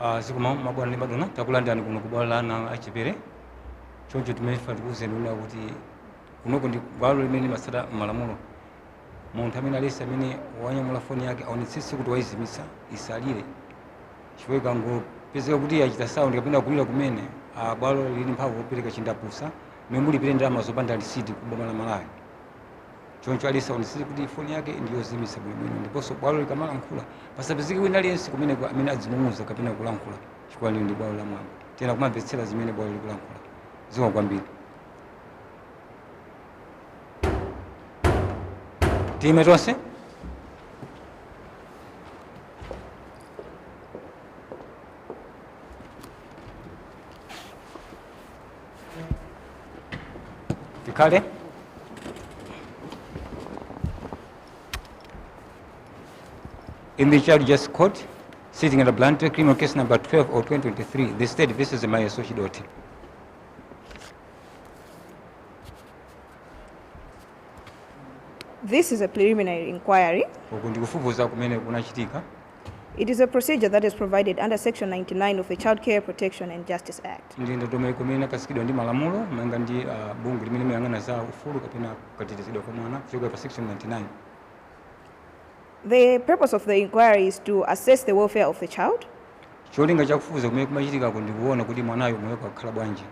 Ah, zikomo mabwana ndi madona takulandirani kuno ku bwalo la ana achepere choncho chimene tifuna tikuwuzeni kunena kuti kunoko ndi bwalo limene limatsata malamulo munthu amene aliyense amene wanyamula foni yake aonetsetse kuti wayizimitsa isalire chifukwa ikangopezeka kuti yachita saundi kapena kulira kumene ah, bwalo lili ndi mphamvu yopereka chindapusa momwe mulipire ndalama zopanda lisiti ku boma la Malawi choncho aliyense aonetsetse kuti foni yake ndiyozimitsa bwinobwino ndiponso bwalo likamalankhula pasapezeke wina aliyense kumeneko amene adzing'ung'uza kapena kulankhula chifukwa lino ndi bwalo la mwambo tiyenera kumamvetsera zimene bwalo likulankhula zikomo kwambiri tiime tonse tikhale in the child justice court sitting at Blantyre criminal case number 12 of 2023 the state versus maya sochidoti This is a preliminary inquiry. uku ndikufufuza kumene kunachitika It is a procedure that is provided under section 99 of the Child Care Protection and Justice Act. ndi ndondomeko imene inakhazikitsidwa ndi malamulo malinga ndi ah, bungwe limene limayang'ana za ufulu kapena katetezedwa kwa mwana kuchokera pa section 99 The purpose of the inquiry is to assess the welfare of the child, cholinga chakufufuza kumene kumachitikako ndi kuona kuti mwanayo moyo wake akukhala bwanji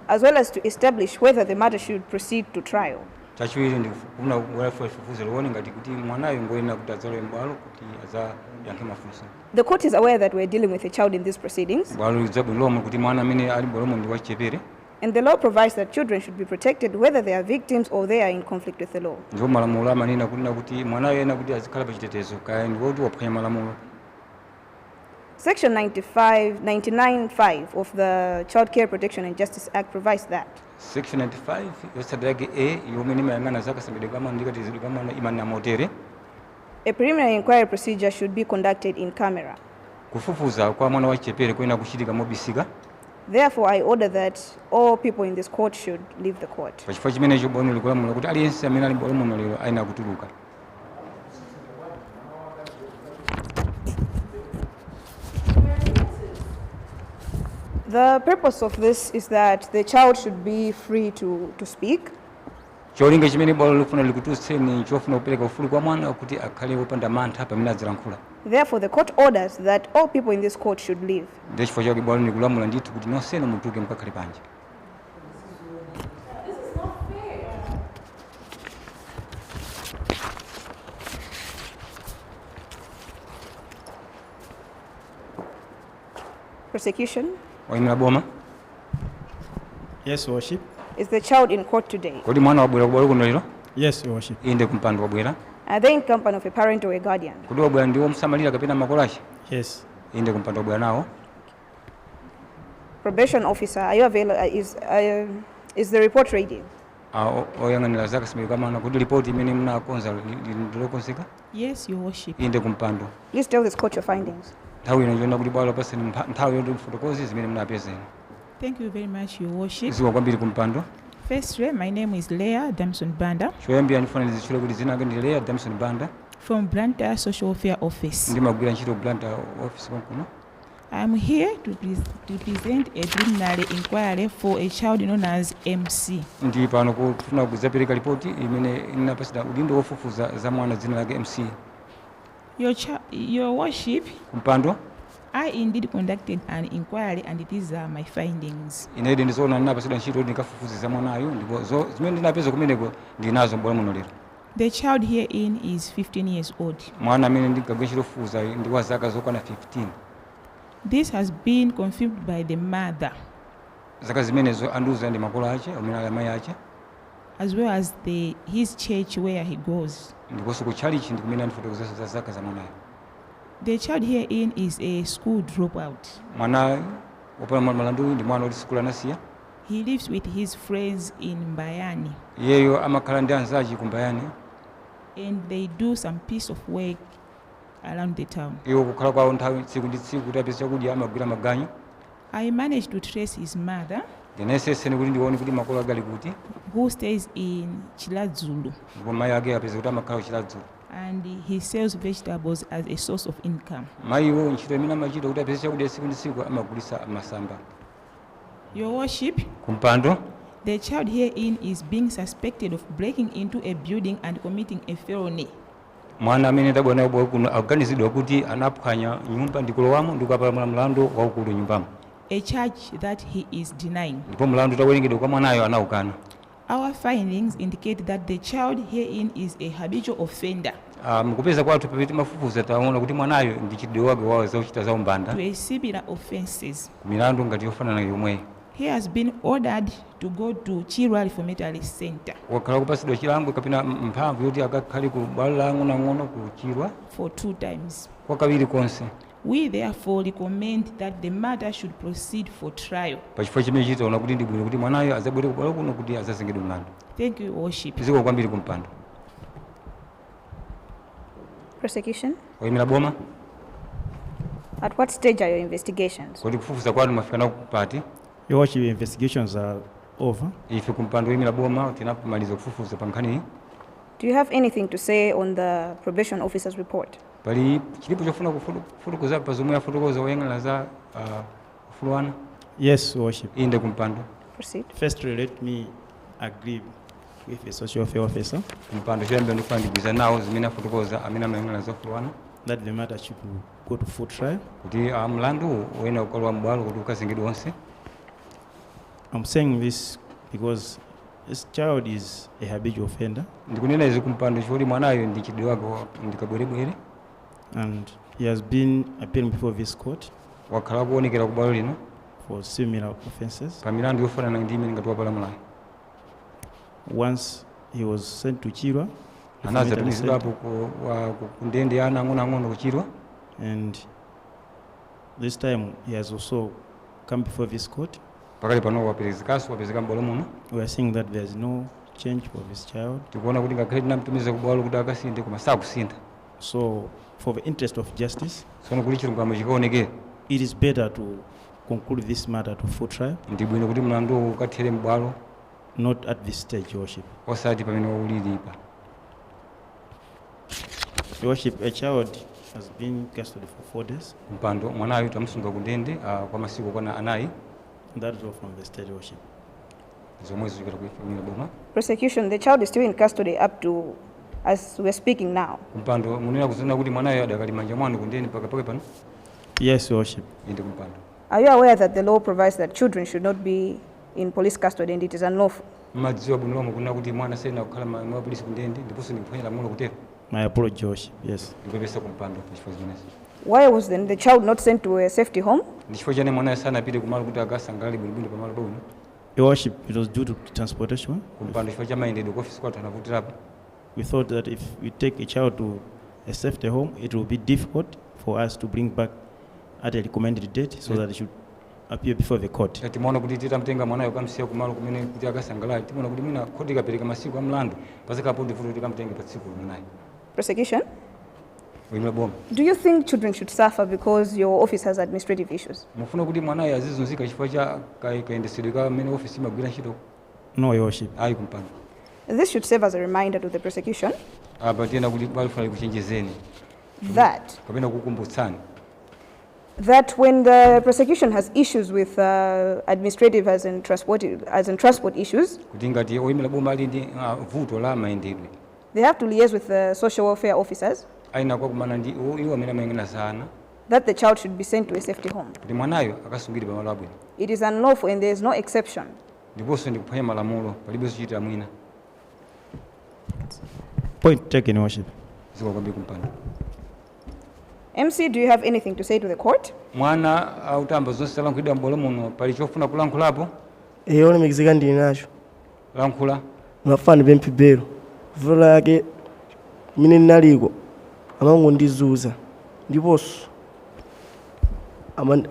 as well as to establish whether the matter should proceed to trial. chachiwiri ndikufuna kufufuza fufuza lione ngati kuti mwanayo ngoyenera kuti adzalowe m'bwalo kuti adzayankhe mafunso The court is aware that we are dealing with a child in these proceedings, bwalo likudziwa bwino lomwe kuti mwana amene ali m'bwalomo ndi wachichepere and the law provides that children should be protected whether they are victims or they are in conflict with the law. ndipo malamulo amanena kunena kuti mwanayo ayenera kuti azikhala pa chitetezo kaya ndi woti waphwanya malamulo Section 95, 99.5 of the Child Care Protection and Justice Act provides that section 95 yotsatira yake a yomwe imayang'ana za kasamalidwe ka mwana ndi katetezedwe ka mwana imanena motere a preliminary inquiry procedure should be conducted in camera. kufufuza kwa mwana wachichepere kuyenera kuchitika mobisika Therefore, I order that all people in this court should leave the court. pachifukwa chimenecho bwalo likulamula kuti aliyense amene ali m'bwalo muno lero ayenera kutuluka The purpose of this is that the child should be free to, to speak. cholinga chimene bwalo likufuna likutulutseni n'chofuna kupereka ufulu kwa mwana kuti akhale wopanda mantha pamene adzilankhula Therefore, the court orders that all people in this court should leave. ndiye chifukwa chake bwalo likulamula ndithu kuti nonsenu mutuluke mukakhale panja Prosecution. Waimira boma. Yes, worship. Is the child in court today? Kodi mwana wabwera kubwalo kuno lero? Yes, worship. Inde kumpando wabwera. Are they in company of a parent or a guardian? Kodi wabwera ndi womusamalira kapena makolo ake? Yes. Inde kumpando wabwera nawo. Probation officer, are you available? Uh, is, uh, is the report ready? Uh, oyang'anira zaka simekamana kuti ripoti imene munakonza ndilokonzeka yes your worship inde kumpando please tell this court your findings nthawi ino ndiona kuti bwalo lakupatsani nthawi yoti mfotokoze zimene munapeza thank you very much your worship zikomo kwambiri kumpando firstly my name is leah damson banda choyambira ndifuna ndizitchule kuti dzina lake ndi leah damson banda from blantyre social welfare office ndimagwira ntchito blantyre office konkuno I am here to, pres to present a preliminary inquiry for a child known as MC. Ndi pano kufuna kudzapereka ripoti imene inapatsidwa udindo wofufuza za mwana dzina lake MC. Your, your worship. Kumpando. I indeed conducted an inquiry and these are my findings. Inedi ndizoona ndinapatsidwa ntchito ndikafufuze za mwanayu ndipo zimene ndinapeza kumeneko ndinazo m'bwalo muno lero. The child herein is 15 years old. Mwana amene ndinkagwira ntchito yofufuzayu ndi wa zaka zokwana 15. This has been confirmed by the mother. Zaka zimenezo andiuza ndi makolo ace, omwe ali amayi ace. as well as the, his church where he goes. ndiponso ku tchalitchi ndi kumene andifotokozeranso za zaka za mwanayo. The child herein is a school dropout. Mwanayu wopalamula mlanduyu ndi mwana woti sukulu anasiya. He lives with his friends in Mbayani. Iyeyo amakhala ndi anzace ku Mbayani. and they do some piece of work around the town. Iwo kukhala kwawo nthawi tsiku ndi tsiku kuti apeze chakudya amagwira maganyu. I managed to trace his mother. Ndinayesetsa kuti ndiwaone kuti makolo ake ali kuti. who stays in Chiladzulu. Ndipo mayi ake apeza kuti amakhala ku Chiladzulu. and he sells vegetables as a source of income. Mayiwo ntchito imene amachita kuti apeze chakudya tsiku ndi tsiku amagulitsa masamba. your worship, ku mpando. the child herein is being suspected of breaking into a building and committing a felony. mwana amene ndabwera naye kubwalo kuno akuganizidwa kuti anaphwanya nyumba ndikulowamo ndikukapalamula mlandu waukulu m'nyumbamo a charge that he is denying. ndipo mlandu utawerengedwa kwa mwanayo anaukana Our findings indicate that the child herein is a habitual offender. a Mu kupeza kwathu pamene timafufuza taona kuti mwanayu ndi mchitidwe wake wa zochita za umbanda to a similar offences. ku milandu ngati yofanana yomweyi. He has been ordered to go to Chirwa Reformatory Center Wakhala akupatsidwa chilango kapena m- mphamvu yoti akakhale ku bwalo la ang'onoang'ono ku Chirwa for two times. kwa kawiri konse. We therefore recommend that the matter should proceed for trial. Pachifukwa chimenechi taona kuti ndi bwino kuti mwanayo adzabwere ku bwalo kuno kuti adzazengedwe mlandu. Thank you, your worship. Zikomo kwambiri kumpando. Prosecution. Oyimira boma. At what stage are your investigations? Kodi kufufuza kwanu mwafika nako pati? Your worship, investigations are over. Ife kumpando oyimira boma tinamaliza kufufuza pa nkhaniyi. Do you have anything to say on the probation officer's report? pali chilichonse chofuna kufotokoza pa zomwe afotokoza oyang'anira za ah, ufulu wa ana Yes, Worship. inde kumpando Proceed. Firstly, let me agree with the social welfare officer kumpando choyambira ndikufuna ndigwirizane nazo zimene afotokoza amene amayang'anira za ufulu wa ana that the matter should go to full trial. kuti ah, mlandu uyenera kukalowa m'bwalo kuti ukazengedwe onse I'm saying this because This child is a habitual offender. Ndikunena izi kumpando chifukwa kuti mwanayu ndi mchitidwe wake wa ndi kabwerebwere. And he has been appearing before this court. Wakhala akuonekera ku bwalo lino. For similar offenses. Pa milandu yofanana ndi imene ngati wapalamulayi. Once he was sent to Chirwa. Anatumizidwapo ku ndende ya ana ang'onoang'ono ku Chirwa. And this time he has also come before this court. Pakali pano waperekedwanso wapezeka m'bwalo muno. We are seeing that there is no change for this child. Tikuona kuti ngakhale tinamtumiza ku bwalo kuti akasinthe koma sakusintha. So for the interest of justice. Tsono kuti chilungamo chikaonekere. It is better to conclude this matter to full trial. Ndi bwino kuti mlandu ukathere m'bwalo. Not at this stage, Your Worship. Osati pamene ulilipa. Worship, a child has been custody for four days. kumpando mwanayu tamusunga ku ndende ah, kwa masiku okwana anayi That is all from the state worship. zomwe zichokera ku ife oyimira boma Prosecution, the child is still in custody up to as we're speaking now. kumpando mukunena kunena kuti mwanayo adakali m'manja mwanu ku ndende mpaka pakali pano Yes, Your Worship. inde kumpando Are you aware that the law provides that children should not be in police custody and it is unlawful. Mumadziwa bwino lomwe kunena kuti mwana sayenera kukhala mmanja mwa apolisi kundende ndiponso ndi kuphwanya lamulo kutero. My apology, Your Worship. Yes. Ndikupepesa ku mpando pa chifukwa chimenechi. Why was then the child not sent to a safety home? Ndi chifukwa chiyani mwanayo sanapite ku malo kuti akasungidwe bwinobwino pa malo pabwino? Your Worship, it was due to transportation. Ku mpando chifukwa cha mayendedwe ku ofisi kwathu anavutirapo. We thought that if we take a child to a safety home, it will be difficult for us to bring back at a recommended date so that it should appear before the court. Ngati mwaona kuti titamtenga mwanayo kukamsiya kumalo kumene kuti akasangalale, timaona kuti mwina khoti likapereka masiku a mlandu, padzakhalapobe vuto loti tikamtenge pa tsikulo mwanayo. Prosecution, Woimira boma. do you think children should suffer because your office has administrative issues? Mufuna kuti mwanayo azizunzika chifukwa cha ka- kayendetsedwe ka mmene ofesi imagwirira ntchito? No, Your Worship. Ayi kumpando. This should serve as a reminder to the prosecution Apa tiyenera kuti bwalo lifuna likuchenjezeni that kapena kukumbutsani that when the prosecution has issues with uh, administrative as in transport, as in transport issues, kuti ngati oyimira boma ali ndi ah, vuto la mayendedwe they have to liaise with the social welfare officers ayenera kumakumana ndi iwo- iwo amene amayang'anira za ana that the child should be sent to a safety home. kuti mwanayo akasungidwe pamalo abwino It is unlawful and there is no exception. ndiponso ndi kuphwanya malamulo palibe zochitira mwina Point taken, Your Worship. zikomo kwambiri kumpando Mc do you have anything to say to the court? Mwana utamva zonse zalankhulidwa m'bwalo muno pali chofuna kulankhulapo? Eya olemekezeka ndili nacho. Lankhula. Ndimafuna ndipemphe belo. Vuto lake mmene ndinaliko amangondizunza ndiponso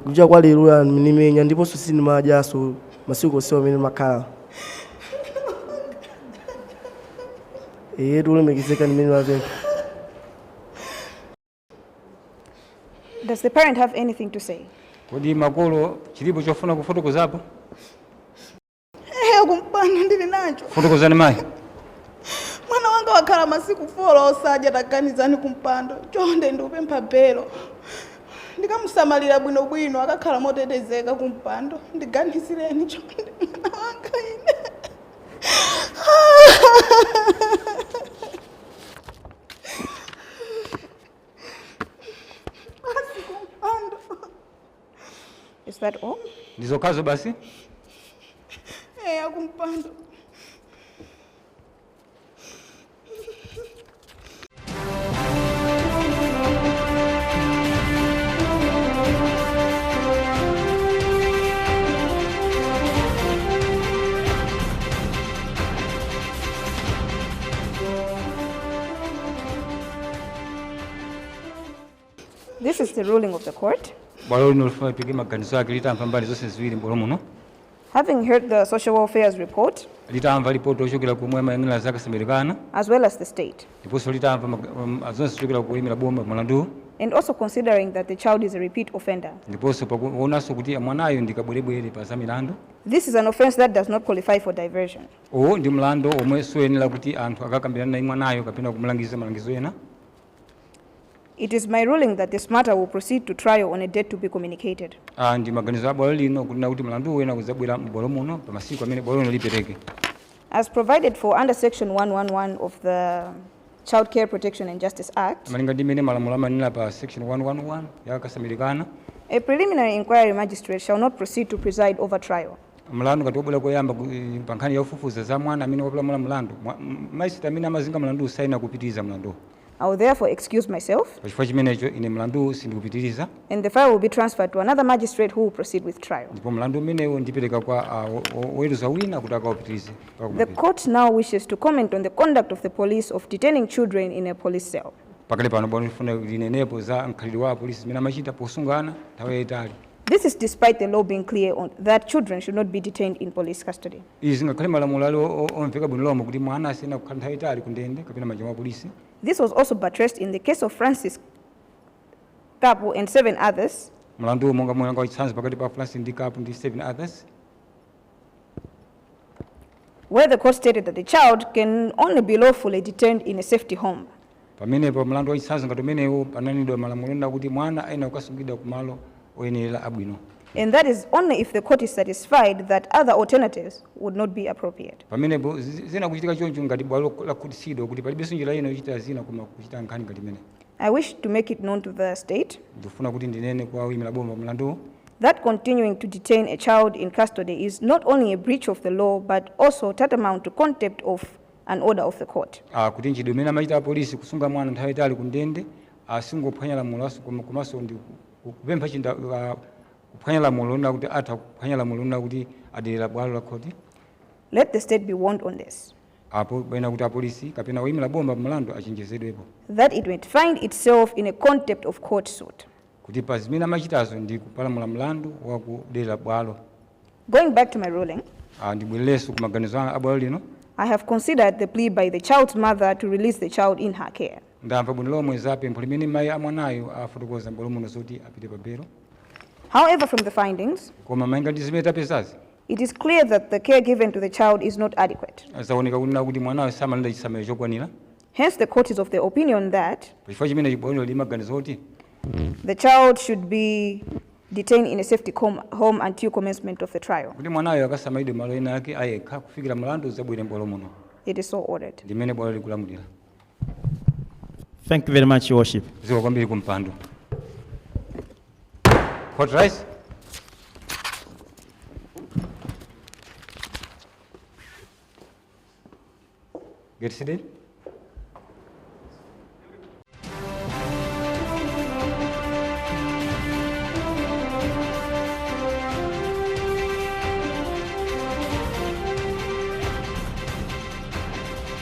kucha kwa leroli andimenya ndiponso sindimadyanso masiku onse amene ndimakhala eyetu olemekezeka n'zimene ndimapempha Does the parent have anything to say? Kodi makolo chilipo chofuna kufotokozapo? Eh, kumpando ndili nacho. Fotokozani mayi. Mwana wanga wakhala masiku folo osadya taganizani kumpando. Chonde ndikupempha belo. Ndikamusamalira bwino bwino akakhala motetezeka kumpando. Ndiganizireni chonde mwana wanga ine. Is that all? Ndi zokhazo basi? Eh, akumpando. This is the ruling of the court. bwalo lino lifuna liike maganizo ake litamva mbali zonse ziwiri m'bwalo muno Having heard the social welfare's report, litamva lipoti lochokera komwe amayang'anira za kasamalidwe ka ana as well as the state, ndiponso litamva mag- um, zonse zochokera kwa oyimira boma mlanduwu and also considering that the child is a repeat offender, ndiponso pakuonanso kuti mwanayo ndikabwerebwere pa za milandu this is an offense that does not qualify for diversion. Uwu ndi mlando omwe suyenera kuti anthu akakambirane naye mwanayo kapena kumulangiza malangizo ena. It is my ruling that this matter will proceed to trial on a date to be communicated. Ah, ndi maganizo a bwalo lino kunena kuti mlanduwu uyenera kudzabwera m'bwalo muno pa masiku amene bwalo lino lipereke. As provided for under section 111 of the Child Care Protection and Justice Act, Malinga ndi mmene malamulo amanena pa section 111 ya kasamalidwe ka ana, a preliminary inquiry magistrate shall not proceed to preside over trial. mlandu ngati wabwera koyamba ku- eh, pa nkhani yofufuza za mwana amene wapalamula mlandu mwa- m- majisitireti amene amazenga mlanduwu sayenera kupitiriza mlanduwo I will therefore excuse myself pachifukwa chimenecho ine mlanduwu sindikupitiriza and the file will be transferred to another magistrate who will proceed with trial. ndipo mlandu umenewu ndipereka kwa ah, wo- wo- woweruza wina kuti akawupitirize The court now wishes to comment on the conduct of the police of detaining children in a police cell. pakali pano bwalo likufuna linenepo za mkhalidwe wa apolisi umene amachita posunga ana nthawi yayitali This is despite the law being clear that children should not be detained in police custody. Izi ngakhale malamulo ali omveka bwino lomwe kuti mwana sayenera kukhala nthawi yaitali kundende kapena m'manja mwa apolisi. This was also buttressed in the case of Francis Kapu and seven others. Mlandu omwe unali wachitsanzo pakati pa Francis ndi Kapu ndi seven others. where the court stated that the child can only be lawfully detained in a safety home. pamenepo mlandu wachitsanzo ngati umenewu pananenedwa malamulo onena kuti mwana ayenera kukasungidwa ku malo oyenerera abwino And that is only if the court is satisfied that other alternatives would not be appropriate. pamenepo zi- ziyenera kuchitika choncho ngati bwalo lakhutitsidwa kuti palibenso njira ina yochitira zinthu koma kuchita nkhani ngati imeneyi I wish to make it known to the state. Ndikufuna kuti ndinene kwa oyimira boma pa mlandu. That continuing to detain a child in custody is not only a breach of the law but also tantamount to contempt of an order of the court. Ah, kuti mchitidwe umene amachita apolisi kusunga mwana nthawi yaitali kundende asungophwanya ah, lamulo aso komanso ndi kupempha chinda ah, kuphwanya lamulo lonena kuti atha kuphwanya lamulo lonena kuti aderera bwalo la khoti. Let the state be warned on this. Apo ayenera kuti apolisi kapena woimira boma pa mlandu achenjezedwepo. that it might find itself in a contempt of court suit. kuti pa zimene amachitazo ndi kupalamula mlandu wa kuderera bwalo. Going back to my ruling. a Ndibwererenso ku maganizo a bwalo lino. I have considered the plea by the child's mother to release the child in her care. Ndamva bwino lomwe za pempho limene mayi a mwanayu afotokoza m'bwalo muno zoti apite pa belo. However, from the findings. Koma malinga ndi zimene tapezazi. It is clear that the care given to the child is not adequate. Zaoneka kunena kuti mwanayo samalandira chisamaliro chokwanira. Hence the court is of the opinion that Pachifukwa chimenechi bwaloli limaganiza kuti the child should be detained in a safety com- home until commencement of the trial. kuti mwanayo akasamalidwe malo ena ake ayekha kufikira mlandu udzabwere m'bwalo muno It is so ordered. ndi mmene bwalo likulamulira. Thank you very much, Your Worship. ziko kwambiri kumpando hot rice get seated